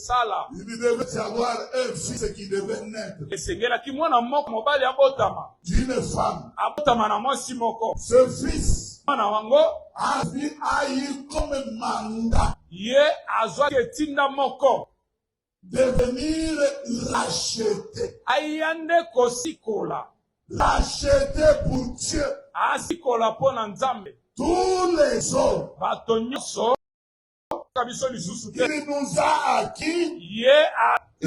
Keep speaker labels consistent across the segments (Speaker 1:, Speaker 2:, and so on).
Speaker 1: sala. Il lui devait y avoir un fils qui devait naître. Esengelaki mwana moko mobali abotama. D'une femme. Abotama na mwasi moko. Ce fils. Mwana wango. A vu a eu comme mandat. Ye azwaki etinda moko. Devenir racheté. Aya nde kosikola. Racheté pour Dieu. Asikola mpo na Nzambe. Tous les hommes. Bato nyonso. akoka biso lisusu te il nous a acquis ye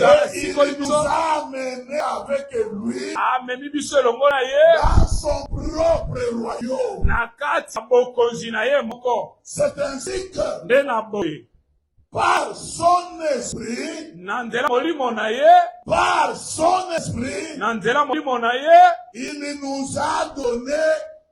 Speaker 1: asikoli biso amene avec lui amemi biso elongo na ye dans son propre royaume na kati ya bokonzi na ye moko c'est ainsi que nde na boye par son esprit na nzela molimo na ye par son esprit na nzela molimo na ye il nous a donné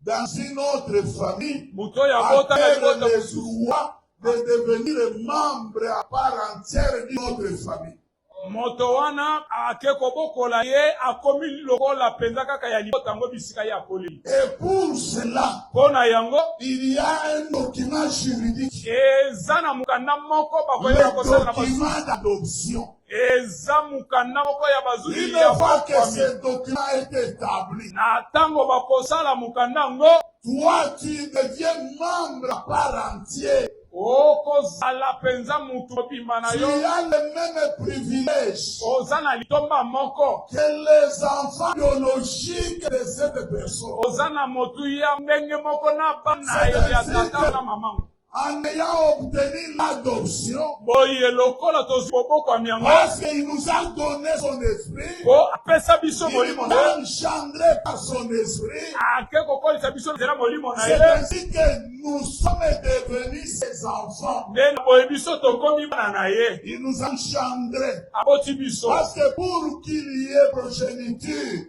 Speaker 1: dans une autre famille moto oyo abota na libota mosusu de devenir membre à part entière d'une autre famille moto wana ake kobokola ye akomi lokola mpenza kaka ya libota yango bisika ye akoleli et pour cela mpo na yango il y a un document juridique eza na mokanda moko bakoyeba kosala na document d'adoption Eza mokanda moko ya bazuzi ya bokwami. Na tango bakosala mokanda yango. Toi tu deviens membre à part entier. Okozala penza mutu mobimba na yo. Tu as le meme privilège. Oza na litomba moko. Que les enfants biologiques de cette personne. Oza na motuya ndenge moko na bana ya tata na maman. en ayant obtenu l'adoption. boye lokola tozwi bobokwami yango Parce qu'il nous a donné son esprit, po apesa biso il molimo na ye engendré par son esprit. ake kokolisa biso nzela molimo na C'est ye ainsi que nous sommes devenus ses enfants. nde na boye biso tokomi bana na ye Il nous a engendrés. aboti biso Parce que pour qu'il y ait progéniture,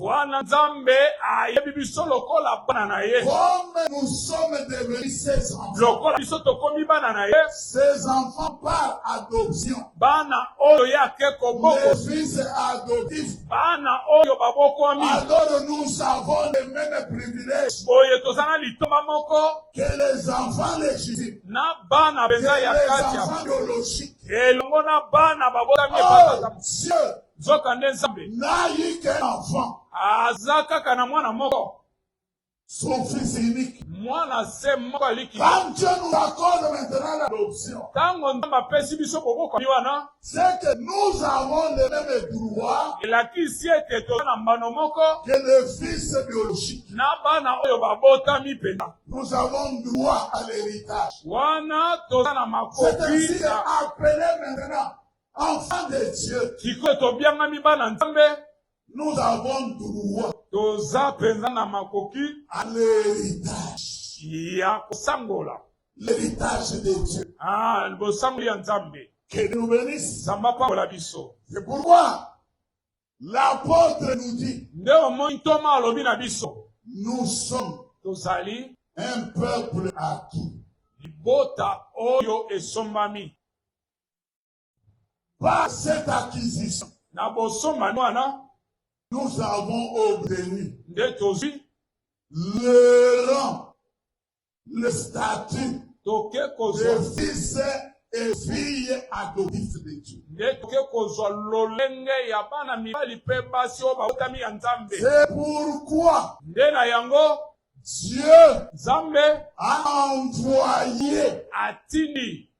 Speaker 1: wana nzambe ayebi biso lokola bana na ye lokola biso tokomi bana na ye bana oyo ye ake koboko bana oyo babokwami boye toza na litoma moko na bana
Speaker 2: mpenza ya kati
Speaker 1: elongo na
Speaker 2: bana babotami oh, nzokande
Speaker 1: Nzambe
Speaker 2: n'a eu qu'un
Speaker 1: enfant. aza kaka
Speaker 2: na mwana moko, Son
Speaker 1: fils unique. mwana se
Speaker 2: moko aliki. Quand Dieu nous
Speaker 1: accorde maintenant l'adoption, Ntango Nzambe apesi
Speaker 2: biso bobokwami wana, c'est que nous
Speaker 1: avons les mêmes droits elakisi ete
Speaker 2: toza na mbano moko que le fils
Speaker 1: biologique. na bana oyo
Speaker 2: babotami mpenza. Nous avons
Speaker 1: droit à l'héritage. Wana toza
Speaker 2: na C'est makoki ainsi na
Speaker 1: appelé
Speaker 2: maintenant
Speaker 1: Enfants de Dieu. Sikoyo tobiangami
Speaker 2: bana Nzambe. Nous avons
Speaker 1: droit. Toza mpenza
Speaker 2: na makoki. À
Speaker 1: l'héritage. Ya
Speaker 2: kosangola. L'héritage
Speaker 1: de Dieu. Ah, bosango ya
Speaker 2: Nzambe. Que nous bénisse.
Speaker 1: Nzambe apambola biso.
Speaker 2: C'est pourquoi
Speaker 1: l'apôtre nous dit. Nde omoni ntoma
Speaker 2: alobi na biso. Nous sommes.
Speaker 1: Tozali.
Speaker 2: Un peuple
Speaker 1: acquis. Libota
Speaker 2: oyo esombami.
Speaker 1: Par cette acquisition, na bosombani
Speaker 2: wana nous
Speaker 1: avons obtenu nde tozwi
Speaker 2: le
Speaker 1: rang, le statut toke de kozwa
Speaker 2: fils
Speaker 1: et fille adoptifs de Dieu. nde toke kozwa
Speaker 2: lolenge ya bana mibali mpe basi oyo babotami ya nzambe C'est pourquoi
Speaker 1: nde na yango
Speaker 2: Dieu
Speaker 1: nzambe
Speaker 2: a
Speaker 1: envoyé atindi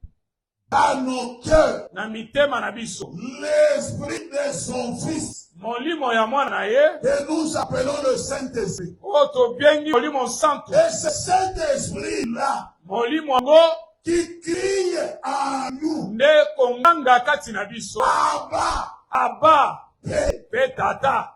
Speaker 2: dans
Speaker 1: nos cœurs na mitema na
Speaker 2: biso l'esprit de
Speaker 1: son fils molimo ya mwana
Speaker 2: na ye que nous appelons
Speaker 1: le Saint-Esprit. oyo tobengi
Speaker 2: molimo nsantu Et c'est cet
Speaker 1: esprit-là molimo yango
Speaker 2: qui crie
Speaker 1: en nous nde konganga
Speaker 2: kati na biso Abba,
Speaker 1: aba
Speaker 2: Père. mpe
Speaker 1: tata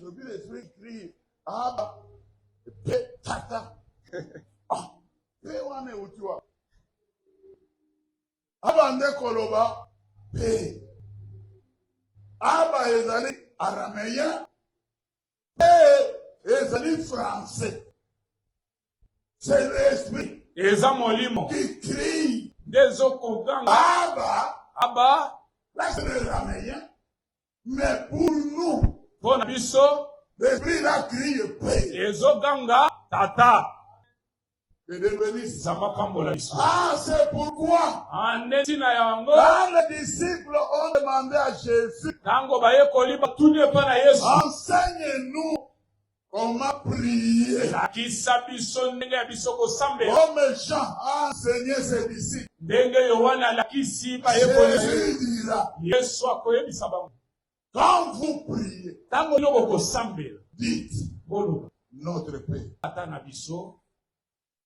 Speaker 1: Je vis les yeux écrire. Ah, bah, pe, tata. Ah, pe wana euti wapi? Abande koloba pe. Aba ezali arameyen pe ezali français. C'est l'esprit. Eza molimo.
Speaker 2: Qui crie.
Speaker 1: Nde ezokoganga.
Speaker 2: Aba.
Speaker 1: Aba.
Speaker 2: Là, c'est le
Speaker 1: rameyen. Mais pour nous, mpo na biso
Speaker 2: l'esprit là
Speaker 1: crie paix. ezoganga
Speaker 2: tata
Speaker 1: Que Dieu bénisse. zamba pambola biso
Speaker 2: Ah, c'est
Speaker 1: pourquoi ande ntina
Speaker 2: yango quand les disciples
Speaker 1: ont demandé à Jésus, ntango bayekoli
Speaker 2: batuni epai na yesu enseigne-nous
Speaker 1: Comment prier? Lakisa biso
Speaker 2: ndenge ya biso kosambela. Comme Jean a
Speaker 1: enseigné ses disciples. Ndenge Yohane
Speaker 2: alakisi bayekoli. Jésus dira. Yesu
Speaker 1: akoyebisa
Speaker 2: bango. Quand vous
Speaker 1: priez. Tango yo bokosambela.
Speaker 2: Dites.
Speaker 1: Boloba.
Speaker 2: Notre Père.
Speaker 1: Ata na biso.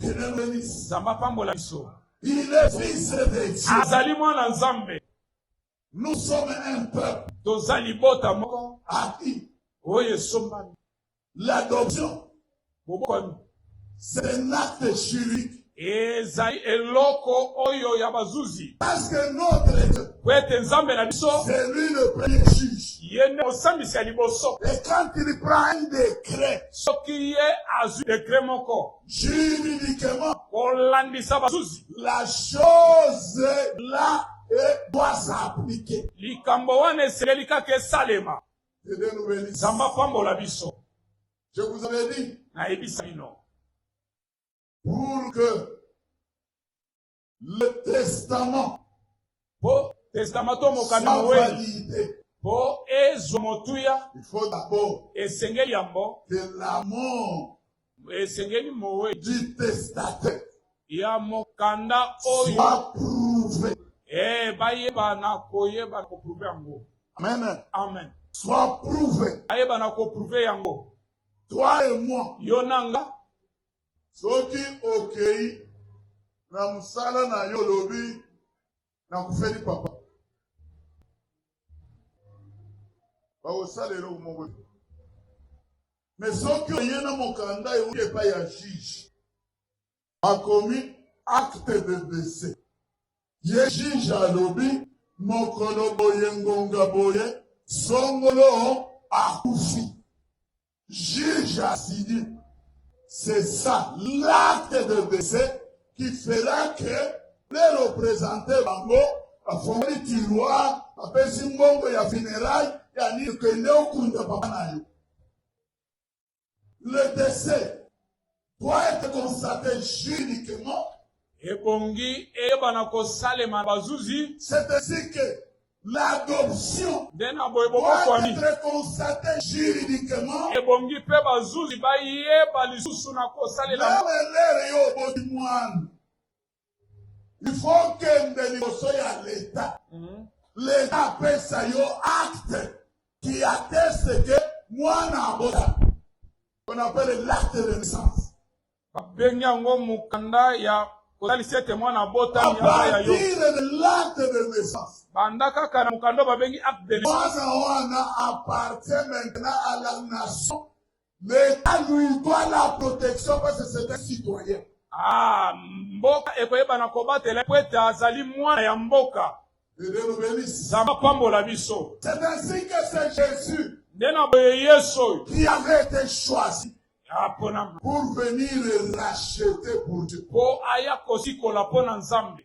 Speaker 1: Nzambe apambola biso. Azali mwana Nzambe. Toza libota
Speaker 2: moko
Speaker 1: oyo esombami.
Speaker 2: L'adoption
Speaker 1: bobokwami
Speaker 2: c'est
Speaker 1: un acte juridique Ezali
Speaker 2: eloko oyo ya bazuzi. Parce que notre
Speaker 1: Dieu. Po ete Nzambe na
Speaker 2: biso. C'est lui le premier
Speaker 1: juge. Ye nde mosambisi
Speaker 2: ya liboso. Et quand il
Speaker 1: prend un décret. Soki ye
Speaker 2: azwi décret moko. Juridiquement.
Speaker 1: Kolandisa
Speaker 2: bazuzi.
Speaker 1: La
Speaker 2: chose
Speaker 1: là et doit s'appliquer. Likambo wana
Speaker 2: eseleli kaka esalema. Nzambe apambola biso. Je vous
Speaker 1: avais dit. Nayebisa bino. pour que le testament po
Speaker 2: testament to mokano soit moweli validé, po
Speaker 1: ezwa
Speaker 2: motuya il faut d'abord
Speaker 1: esengeli yango
Speaker 2: que la
Speaker 1: mort esengeli
Speaker 2: moweli du testataire
Speaker 1: ya
Speaker 2: mokanda oyo soit prouvée.
Speaker 1: eh, bayebana
Speaker 2: koyebana koprouve yango Amen. amen
Speaker 1: Soit
Speaker 2: prouvée.
Speaker 1: bayebana koprouve
Speaker 2: yango Toi et
Speaker 1: moi, yo na nga Soki okei na mosala na yo olobi nakufeli papa, bakosala eloko moko te. Me soki oye na mokanda euti epai ya juge, akomi acte de dese, ye juge alobi mokolo boye ngonga boye songolo akufi. Juge a signé. C'est ça, l'acte de décès qui fera que les représentants bango bafongoli tiroir bapesi mbongo ya funéraille ya nini kende okunda papa na yo le décès doit être constaté juridiquement ebongi
Speaker 2: eyebana kosalema bazuzi c'est ainsi que
Speaker 1: l'adoption nde na boye doit
Speaker 2: bobokwami être
Speaker 1: constatée juridiquement ebongi mpe
Speaker 2: bazuzi bayeba lisusu na kosalela na elere yo
Speaker 1: oboti mwana il faut okende liboso ya leta mhm. leta apesa yo acte qui atteste que mwana abota on appelle l'acte de naissance babengi
Speaker 2: yango mokanda ya kotalisa ete mwana abotami ya yo
Speaker 1: banda kaka na
Speaker 2: mokanda babengi acte de naissance wana
Speaker 1: appartient maintenant à la nation L'etat lui doit la protection parce que c'est un citoyen. Ah,
Speaker 2: mboka ekoyebana kobatela mpo ete azali mwana ya mboka.
Speaker 1: Zama pambola biso.
Speaker 2: C'est ainsi que
Speaker 1: c'est Jésus. Nde na boye
Speaker 2: Yesu oyo. Qui avait été
Speaker 1: choisi. Aponama.
Speaker 2: Pour venir
Speaker 1: racheter pour Dieu. Mpo aya
Speaker 2: kosikola mpo na Nzambe.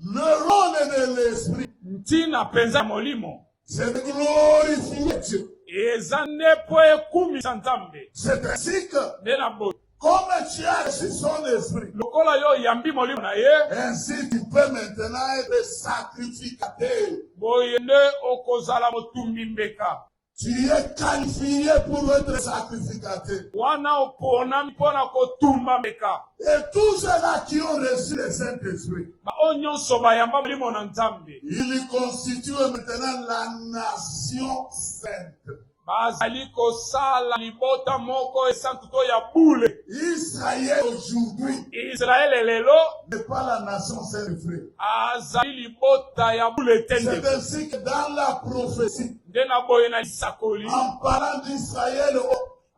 Speaker 1: Le role de l'esprit. Ntina mpenza
Speaker 2: ya molimo. C'est de
Speaker 1: glorifier Dieu. Eza nde
Speaker 2: mpo ekumisa Nzambe. C'est ainsi que.
Speaker 1: Nde na boye. Comme
Speaker 2: tu as
Speaker 1: reçu son esprit. Lokola yo oyambi
Speaker 2: molimo na ye. Ainsi tu peux
Speaker 1: maintenant être sacrificateur. Boye nde
Speaker 2: okozala motumbi mbeka. Tu es
Speaker 1: qualifié pour être sacrificateur. Wana oponami
Speaker 2: mpo na kotumba meka. Et tous ceux-là
Speaker 1: qui ont reçu le Saint-Esprit. Baoyo nyonso
Speaker 2: bayamba Molimo na Nzambe. Il constitue
Speaker 1: maintenant la nation sainte. Bazali
Speaker 2: kosala libota moko esantu to ya bule. Israël
Speaker 1: aujourd'hui. Israël lelo.
Speaker 2: N'est pas la
Speaker 1: nation sainte. Azali
Speaker 2: libota ya bule te. C'est ainsi que
Speaker 1: dans
Speaker 2: la
Speaker 1: prophétie. nde na boye na
Speaker 2: lisakoli en parlant
Speaker 1: d'Israël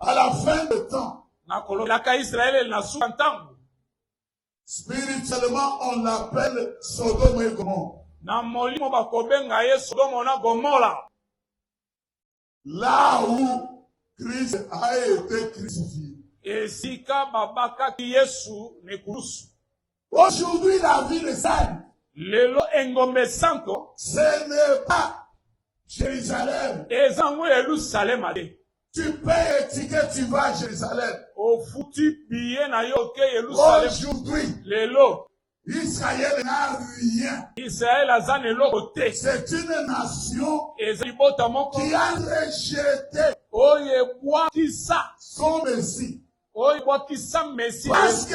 Speaker 1: à la fin de temps na kolobelaka
Speaker 2: Israël na suka ntango spirituellement
Speaker 1: on l'appelle Sodome et Gomorrhe na molimo
Speaker 2: bakobenga ye Sodome na Gomorrhe là
Speaker 1: où Christ a été crucifié esika
Speaker 2: babakaki Yesu na ekulusu Aujourd'hui
Speaker 1: la ville est sainte. lelo
Speaker 2: engombe esanto Ce n'est
Speaker 1: pas Jérusalem. eza yango
Speaker 2: yerusalema te Tu payes
Speaker 1: ticket, tu vas à Jérusalem. ofuti
Speaker 2: biye na yo oke yerusalema Aujourd'hui, lelo Israël
Speaker 1: n'a rien. israele aza na
Speaker 2: eloko te C'est une
Speaker 1: nation eza libota moko
Speaker 2: qui a rejeté
Speaker 1: oyo
Speaker 2: ebwakisa son Messie.
Speaker 1: oyo ebwakisa
Speaker 2: mesi Parce que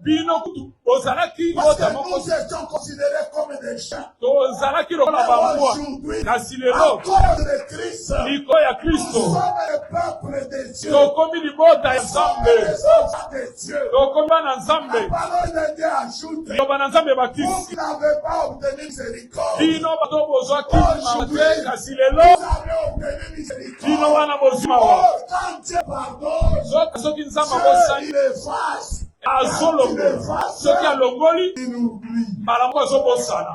Speaker 1: bino kutu
Speaker 2: bozalaki bota moko
Speaker 1: tozalaki lokola
Speaker 2: bambwa
Speaker 1: kasi
Speaker 2: lelo
Speaker 1: likolo ya kristo tokomi libota ya
Speaker 2: nzambe
Speaker 1: tokomi bana nzambe loba na nzambe bakisi bino bato bozwa
Speaker 2: kini mawa te kasi lelo
Speaker 1: bino wana bozwi mawa soki soki nzambe
Speaker 2: abosani
Speaker 1: azolongola
Speaker 2: soki alongoli
Speaker 1: mbala moko azobosana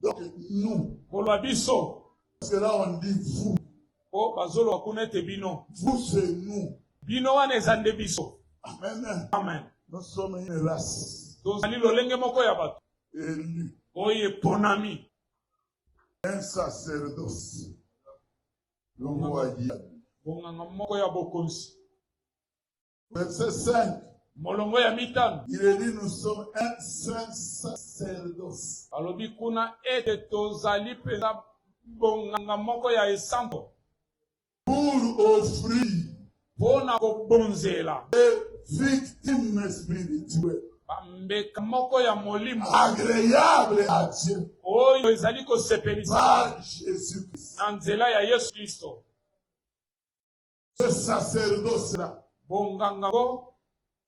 Speaker 1: Donc nous. Koloba biso.
Speaker 2: Parce que là on
Speaker 1: dit vous. Oh, bazolo
Speaker 2: akuna te bino. Vous c'est nous.
Speaker 1: Bino wana eza
Speaker 2: nde biso. Amen. Amen.
Speaker 1: Nous
Speaker 2: sommes une
Speaker 1: race. Tozali lolenge moko
Speaker 2: ya bato. Élu.
Speaker 1: Oyo eponami. Un sacerdoce. Longo ya Bonganga moko
Speaker 2: ya bokonzi.
Speaker 1: Verset 5. Molongo ya
Speaker 2: mitano. Il est dit nous sommes
Speaker 1: un saint sacerdoce. Alobi kuna
Speaker 2: ete tozali mpenza bonganga moko ya esango. Pour
Speaker 1: offrir. Mpo na
Speaker 2: kobonzela. Des
Speaker 1: victimes spirituelles. bambeka
Speaker 2: moko ya molimo agreable
Speaker 1: à Dieu oyo ezali
Speaker 2: kosepelisa
Speaker 1: na nzela ya yesu
Speaker 2: kristo
Speaker 1: le sacerdoce la bonganga bo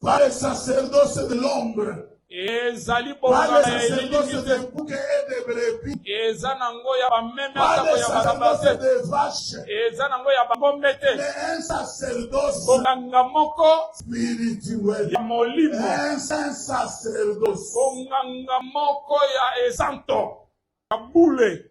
Speaker 2: pas le
Speaker 1: sacerdoce de l'ombre ezali
Speaker 2: bonganga ya
Speaker 1: elilingi
Speaker 2: te
Speaker 1: eza na ngo ya
Speaker 2: bameme atako ya balaba te eza
Speaker 1: na ngo ya
Speaker 2: bangombe te
Speaker 1: bonganga moko ya molimo bonganga
Speaker 2: moko ya esanto ya bule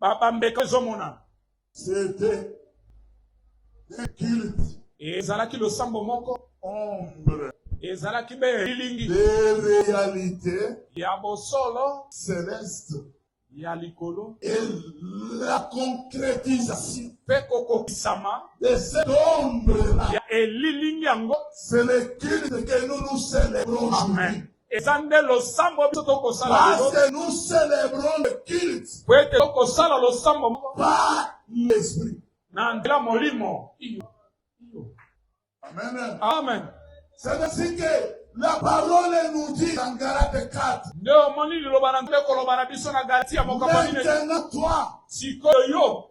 Speaker 1: Ba
Speaker 2: bambeka ezomonana.
Speaker 1: C'était un culte. Ezalaki losambo
Speaker 2: moko. Ombre.
Speaker 1: Ezalaki be
Speaker 2: elilingi. Des réalités.
Speaker 1: Ya bosolo.
Speaker 2: Céleste.
Speaker 1: Ya
Speaker 2: likolo. Et
Speaker 1: la concrétisation. Pe
Speaker 2: kokokisama. De cette
Speaker 1: ombre là. Ya elilingi
Speaker 2: yango. C'est le culte
Speaker 1: que nous nous célébrons. Amen. eza nde
Speaker 2: losambo biso tokosala Parce que nous
Speaker 1: célébrons le culte po ete tokosala
Speaker 2: losambo moko par
Speaker 1: l'esprit. na nzela
Speaker 2: molimo iyo iyo
Speaker 1: Amen. amen
Speaker 2: C'est ainsi
Speaker 1: que la parole nous dit dans Galate 4. nde omoni liloba
Speaker 2: na nzambe koloba na biso na galatia mokambo minei Maintenant, toi,
Speaker 1: sikoyo yo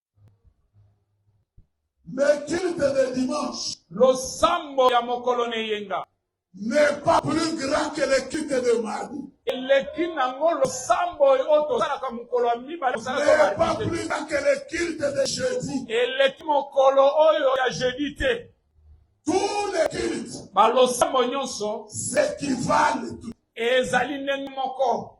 Speaker 1: Le culte de dimanche. Losambo
Speaker 2: ya mokolo na eyenga. N'est pas
Speaker 1: plus grand que le culte de mardi. eleki nango
Speaker 2: losambo oyo tosalaka mokolo ya mibale N'est pas plus
Speaker 1: grand que le culte de jeudi. eleki mokolo
Speaker 2: oyo ya jeudi te Tous
Speaker 1: les cultes balosambo nyonso
Speaker 2: s'équivalent.
Speaker 1: ezali ndenge
Speaker 2: moko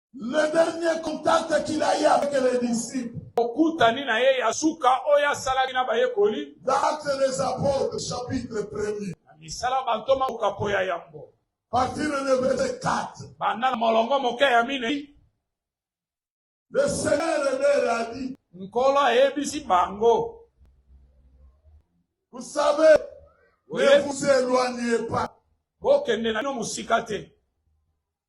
Speaker 1: Le dernier contact qu'il a eu avec les disciples. Okutani na ye
Speaker 2: ya suka oyo asalaki na bayekoli. Actes des
Speaker 1: apôtres chapitre 1er. Na misala bantoma
Speaker 2: okapo ya yambo. Partir le
Speaker 1: verset 4. Banda na molongo
Speaker 2: moke ya minei.
Speaker 1: Le Seigneur leur a dit. Nkolo ayebisi
Speaker 2: bango.
Speaker 1: Vous savez, ne
Speaker 2: vous éloignez
Speaker 1: pas. Bokende na bino
Speaker 2: mosika te.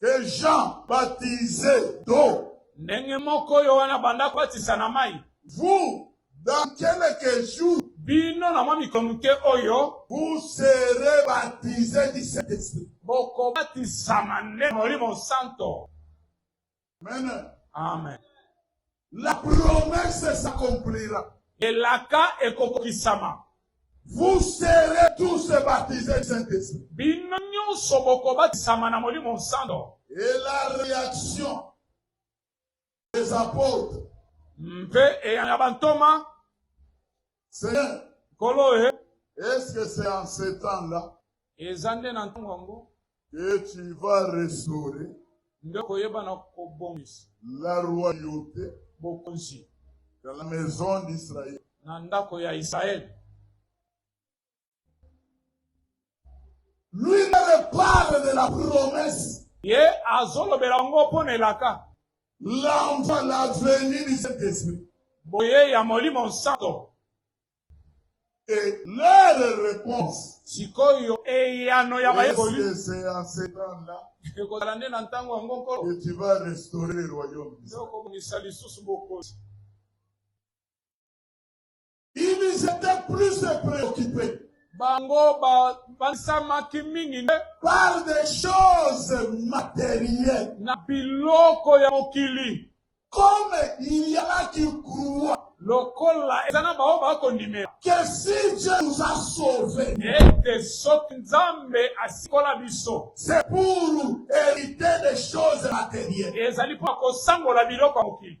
Speaker 1: Que Jean baptise d'eau. Ndenge moko
Speaker 2: oyo wana abanda kobatisa na mai. Vous,
Speaker 1: dans quelques jours. Bino na mwa mikolo
Speaker 2: moke oyo. Vous serez
Speaker 1: baptise du Saint-Esprit. Bokobatisama
Speaker 2: nde Molimo Santo. Amen.
Speaker 1: Amen.
Speaker 2: La
Speaker 1: promesse s'accomplira. Elaka
Speaker 2: ekokokisama. Vous
Speaker 1: serez tous baptisés du Saint-Esprit. Bino nyonso
Speaker 2: bokobatisama na Molimo Santo. Et la
Speaker 1: réaction des apôtres. Mpe
Speaker 2: eyano ya bantoma.
Speaker 1: Seigneur, nkolo
Speaker 2: e est-ce que c'est
Speaker 1: en ce temps là eza nde na
Speaker 2: ntango yango que tu
Speaker 1: vas restaurer nde koyeba
Speaker 2: na kobongisa la
Speaker 1: royauté bokonzi
Speaker 2: dans la
Speaker 1: maison d'Israël na ndako ya
Speaker 2: Israël
Speaker 1: Lui me parle de la promesse. Ye
Speaker 2: azolobela yango mpo na elaka. L'enfant,
Speaker 1: la venue du Saint-Esprit. Boye ya
Speaker 2: Molimo Nsanto.
Speaker 1: Et leur réponse. Sikoyo
Speaker 2: eyano ya bayekoli. C'est
Speaker 1: en
Speaker 2: ce
Speaker 1: temps-là. Ekozala nde na
Speaker 2: ntango yango nkolo. Que tu vas restaurer
Speaker 1: le royaume. Okobongisa lisusu
Speaker 2: bokonzi.
Speaker 1: Ils étaient plus préoccupés. Bango
Speaker 2: babandisamaki mingi nde. Par des
Speaker 1: choses matérielles. Na
Speaker 2: biloko ya mokili. Comme
Speaker 1: il y a qui croient. lokola eza
Speaker 2: na bango bakondimela que si
Speaker 1: dieu nous a sauve ete soki
Speaker 2: nzambe asikola biso c'est pour
Speaker 1: hériter des choses matérielles ezali mpo akosangola
Speaker 2: biloko ya mokili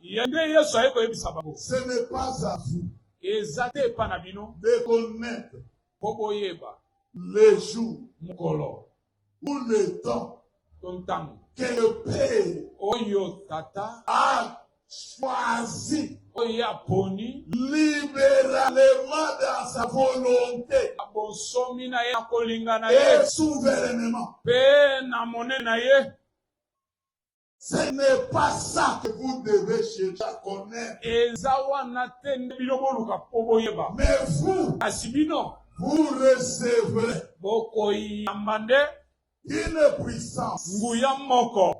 Speaker 1: Ye nde Yesu aye
Speaker 2: koyebisa bango. Ce n'est pas à
Speaker 1: vous. Eza te epa
Speaker 2: na bino. De connaître.
Speaker 1: Po boyeba.
Speaker 2: Le jour.
Speaker 1: Mokolo.
Speaker 2: Ou le
Speaker 1: temps. To ntango.
Speaker 2: Que le Père.
Speaker 1: Oyo Tata.
Speaker 2: A
Speaker 1: choisi. Oyo
Speaker 2: aponi. Libéralement
Speaker 1: dans sa volonté. Abonsomi
Speaker 2: na ye na kolinga na ye. Et souverainement.
Speaker 1: Pe na
Speaker 2: monene na ye.
Speaker 1: Ce n'est pas ça que vous devez chercher à connaître. eza
Speaker 2: wana te
Speaker 1: nde
Speaker 2: bino boluka mpo
Speaker 1: boyeba
Speaker 2: Mais vous, kasi bino vous
Speaker 1: recevrez bokoyamba
Speaker 2: nde une
Speaker 1: puissance, nguya moko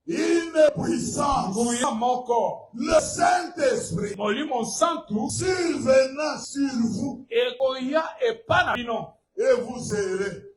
Speaker 2: une
Speaker 1: puissance, nguya moko
Speaker 2: le
Speaker 1: Saint-Esprit molimo nsantu
Speaker 2: survenant
Speaker 1: sur vous ekoya
Speaker 2: epa na bino et vous serez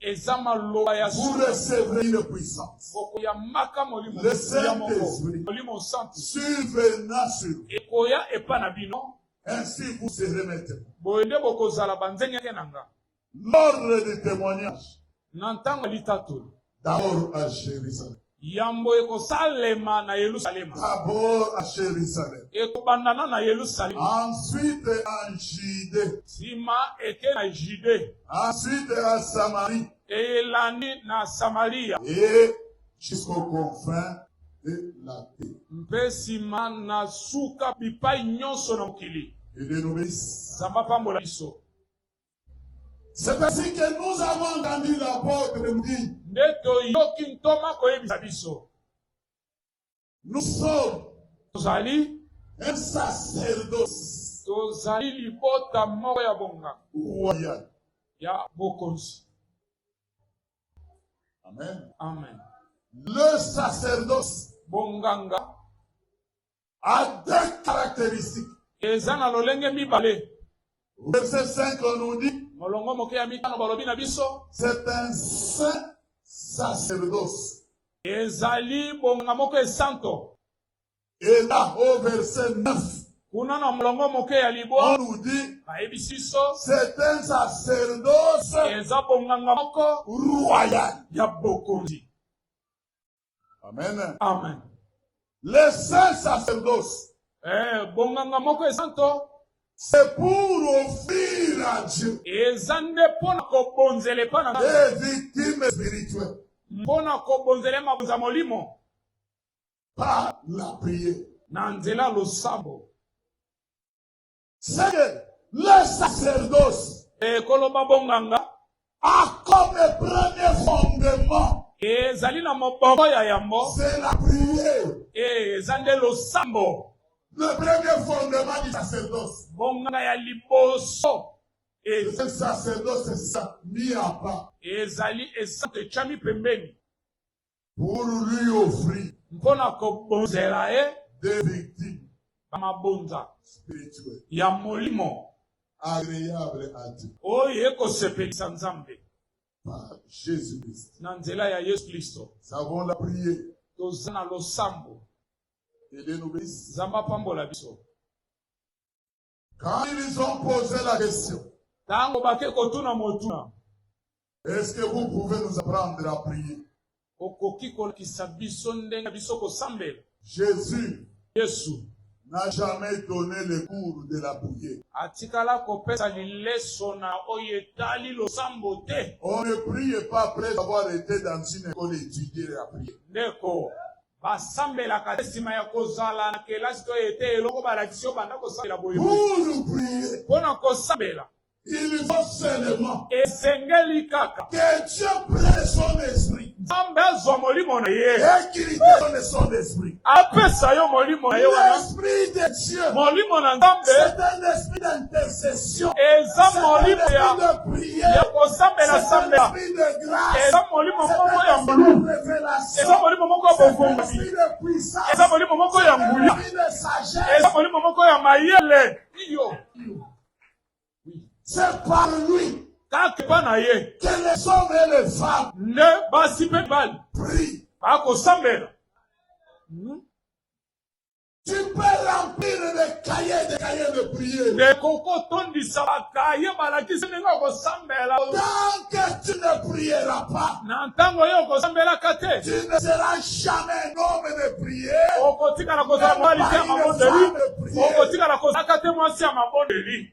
Speaker 1: eza maloba
Speaker 2: ya vous recevrez une puissance
Speaker 1: okoyamaka
Speaker 2: molimo le saint esprit molimo santu survenant
Speaker 1: sur ekoya epa na
Speaker 2: bino ainsi vous
Speaker 1: serez maître boye nde bokozala
Speaker 2: banzengenge na nga l'ordre
Speaker 1: du témoignage na ntango ya
Speaker 2: litatoli d'abord à
Speaker 1: jérusalem Yambo
Speaker 2: ekosalema na Yelusalema. D'abord à
Speaker 1: Jerusalem. Ekobanda na na
Speaker 2: Yelusalema. Ensuite en
Speaker 1: Judee. Sima
Speaker 2: eke na Judee. Ensuite à
Speaker 1: Samarie. Elandi
Speaker 2: na Samaria. Et
Speaker 1: jusqu'aux confins de la terre. Mpe sima
Speaker 2: na suka bipai nyonso na mokili. Que Dieu nous bénisse.
Speaker 1: Nzambe apambola biso. C'est ainsi que nous avons entendu l'apôtre nous dit. Nde toyoki
Speaker 2: ntoma koyebisa biso.
Speaker 1: Nous sommes. Tozali.
Speaker 2: Un
Speaker 1: sacerdoce. Tozali
Speaker 2: libota moko ya bonga. Royal.
Speaker 1: Ya
Speaker 2: bokonzi.
Speaker 1: Amen. Amen.
Speaker 2: Le
Speaker 1: sacerdoce. Bonganga. a deux caractéristiques. Eza na
Speaker 2: lolenge mibale. Verset
Speaker 1: 5 on nous dit. Molongo moke ya mitano
Speaker 2: balobi na biso. C'est un
Speaker 1: saint sacerdoce. Ezali
Speaker 2: bonga moko esanto. Et
Speaker 1: là au verset 9. Kuna na molongo
Speaker 2: moke ya libwa. On nous dit. Bayebisi
Speaker 1: biso.
Speaker 2: C'est un
Speaker 1: sacerdoce. Eza bonganga
Speaker 2: moko. Royal.
Speaker 1: Ya bokonzi.
Speaker 2: Amen.
Speaker 1: Amen.
Speaker 2: Le
Speaker 1: saint sacerdoce. Eh, bonganga
Speaker 2: moko esanto. C'est
Speaker 1: pour offrir à Dieu. Eza nde mpo
Speaker 2: na kobonzela epai na Des victimes
Speaker 1: spirituelles. Mpo na
Speaker 2: kobonzela mabonza molimo.
Speaker 1: Par la prière. Na nzela
Speaker 2: losambo.
Speaker 1: Seigneur, le sacerdoce. Et koloba
Speaker 2: bonganga. A
Speaker 1: comme premier fondement. Et zali na
Speaker 2: moboko ya yambo. C'est la prière.
Speaker 1: Et eza nde
Speaker 2: losambo. Le premier
Speaker 1: fondement du sacerdoce. Bonganga ya
Speaker 2: liboso. Et le
Speaker 1: sacerdoce est ça, mis à part. Ezali esanto
Speaker 2: echami pembeni. Pour
Speaker 1: lui offrir. Mpo na
Speaker 2: kobonzela ye. Des
Speaker 1: victimes. Ba mabonza.
Speaker 2: Spirituel.
Speaker 1: Ya molimo.
Speaker 2: Agreable
Speaker 1: à Dieu. Oyo ekosepelisa
Speaker 2: Nzambe. Par
Speaker 1: Jésus Christ. Na nzela ya Yesu
Speaker 2: Kristo. Nous avons la prière.
Speaker 1: Toza na
Speaker 2: losambo.
Speaker 1: Nzambe apambola biso. Quand ils ont posé la question. Tango bake
Speaker 2: kotuna motuna. Est-ce
Speaker 1: que vous pouvez nous apprendre à prier? Okoki
Speaker 2: kolakisa biso ndenge biso kosambela. Jésus.
Speaker 1: Yesu.
Speaker 2: n'a jamais
Speaker 1: donné le cours de la prière. atikala kopesa
Speaker 2: lileso na oyo etali losambo te. on ne prie
Speaker 1: pas après avoir été dans une école étudier la prière. ndeko
Speaker 2: Basambelaka te nsima ya kozala na kelasi to ete eloko balakisi yo banda kosambela boye.
Speaker 1: Mpo na kosambela
Speaker 2: Il faut
Speaker 1: seulement esengeli
Speaker 2: kaka que Dieu prenne
Speaker 1: son esprit. Nzambe azwa molimo
Speaker 2: na ye. Et qu'il donne
Speaker 1: son esprit. Apesa yo molimo
Speaker 2: na ye wana. L'esprit de Dieu.
Speaker 1: Molimo na Nzambe.
Speaker 2: C'est un esprit
Speaker 1: d'intercession. Eza
Speaker 2: molimo ya
Speaker 1: ya kosambela
Speaker 2: sambela. eza
Speaker 1: molimo moko
Speaker 2: ya ngulu
Speaker 1: eza molimo moko ya
Speaker 2: bovongisi
Speaker 1: eza molimo moko ya
Speaker 2: nguya eza
Speaker 1: molimo moko ya
Speaker 2: mayele
Speaker 1: iyo kaka epa na ye nde basi mpe
Speaker 2: mibali
Speaker 1: bakosambela
Speaker 2: hmm?
Speaker 1: ekoki otondisa
Speaker 2: bakaye balakisi ndenge okosambela
Speaker 1: na ntango oyo
Speaker 2: okosambelaka te
Speaker 1: okotikala kozala
Speaker 2: mobali te ya mabondeli okotikala kozalaka te mwasi ya mabondeli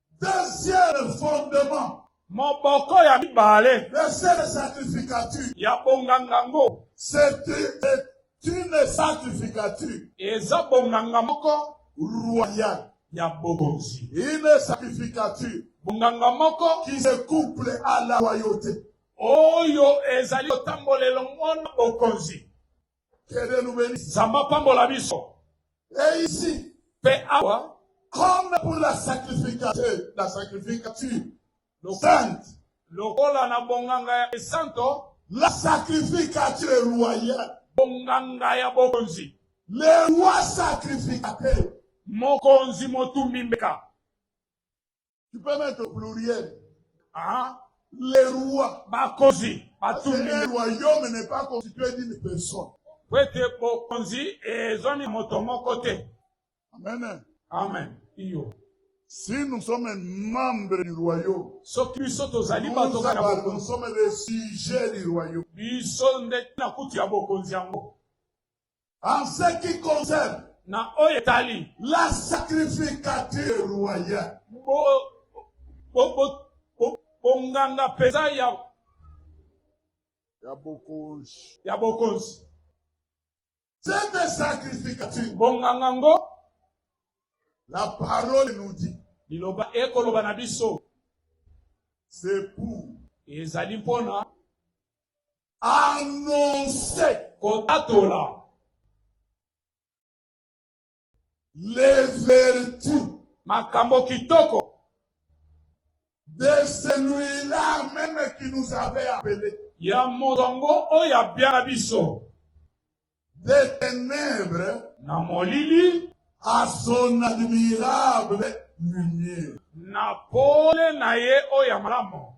Speaker 2: Deuxième
Speaker 1: fondement. Moboko ya
Speaker 2: mibale. Verset de
Speaker 1: sacrificature. Ya bonganga
Speaker 2: ngo. C'est
Speaker 1: une sacrificature. Eza bonganga
Speaker 2: moko royal
Speaker 1: ya bokonzi.
Speaker 2: Une
Speaker 1: sacrificature. Bonganga moko
Speaker 2: qui se couple
Speaker 1: à la royauté. Oyo
Speaker 2: ezali kotambolela mona bokonzi. Que
Speaker 1: Dieu nous bénisse. Nzambe apambola biso.
Speaker 2: Et ici,
Speaker 1: mpe awa
Speaker 2: comme pour
Speaker 1: la sacrification, la sacrificature, le sainte, lokola na
Speaker 2: bonganga ya esanto, la
Speaker 1: sacrificature royale, bonganga ya
Speaker 2: bokonzi, le roi
Speaker 1: sacrificateur, mokonzi
Speaker 2: motumbi mbeka
Speaker 1: Tu peux mettre au pluriel. Ah,
Speaker 2: les rois.
Speaker 1: Bakozi.
Speaker 2: Batumbi. Le
Speaker 1: royaume n'est
Speaker 2: pas constitué
Speaker 1: d'une personne. Kwete
Speaker 2: bokonzi ezwami moto moko te. Amen.
Speaker 1: Amen.
Speaker 2: Iyo. Si nous
Speaker 1: sommes membres du royaume, soki biso tozali
Speaker 2: bato kaka
Speaker 1: bokonzi,
Speaker 2: nous sommes les sujets
Speaker 1: du royaume. Biso nde
Speaker 2: na kutu ya bokonzi yango. En
Speaker 1: ce qui concerne na oyo etali
Speaker 2: la
Speaker 1: sacrificature royale
Speaker 2: bonganga mpenza ya ya bokonzi ya bokonzi
Speaker 1: cette sacrificature bonganga ngo la parole nous dit liloba ekoloba
Speaker 2: na biso
Speaker 1: c'est pour ezali mpona annoncer kotatola les vertus makambo
Speaker 2: kitoko
Speaker 1: de celui-là même qui nous avait appelé ya moto yango
Speaker 2: oyo abyala biso
Speaker 1: des ténèbres na molili
Speaker 2: à son
Speaker 1: admirable lumière na
Speaker 2: pole na ye oyo ya malamu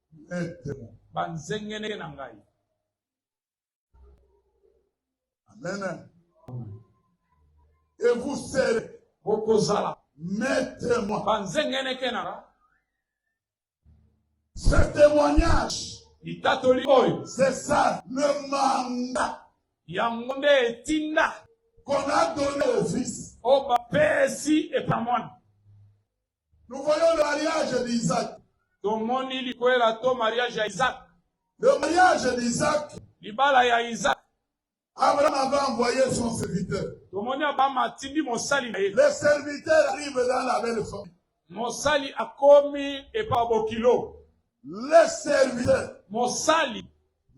Speaker 1: banzengeneke na
Speaker 2: ngai
Speaker 1: amen et vous serez bokozala
Speaker 2: maître
Speaker 1: moi banzengeneke na
Speaker 2: ngai
Speaker 1: ce témoignage litatoli
Speaker 2: oyo c'est ça le
Speaker 1: mandat yango nde
Speaker 2: etinda qu'on a
Speaker 1: donné au fils oyo bapesi
Speaker 2: epa mwana
Speaker 1: Nous voyons le mariage d'Isaac. Tomoni
Speaker 2: likwela to mariage ya Isaac. Le mariage
Speaker 1: d'Isaac. Libala ya
Speaker 2: Isaac. Abraham
Speaker 1: avait envoyé son serviteur. Tomoni Abraham
Speaker 2: atindi mosali na ye. Le serviteur
Speaker 1: arrive dans la belle famille. Mosali
Speaker 2: akomi epa bokilo. Le
Speaker 1: serviteur. Mosali.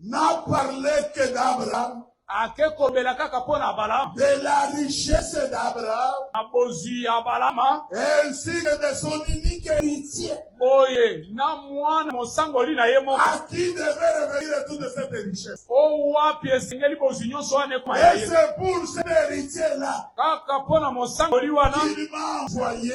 Speaker 2: N'a
Speaker 1: parlé que d'Abraham.
Speaker 2: ake kobela kaka mpo na abalama de la richesse
Speaker 1: d'abraham na bozwi ya
Speaker 2: abalama ainsi que de
Speaker 1: son unique héritier boye na
Speaker 2: mwana mosangoli na ye moko à qui devait revenir
Speaker 1: toute cette richesse o wapi
Speaker 2: esengeli bozwi nyonso wana ekoma ya ye c'est pour
Speaker 1: cet
Speaker 2: héritier
Speaker 1: là kaka mpo na
Speaker 2: mosangoli wana il m'a envoyé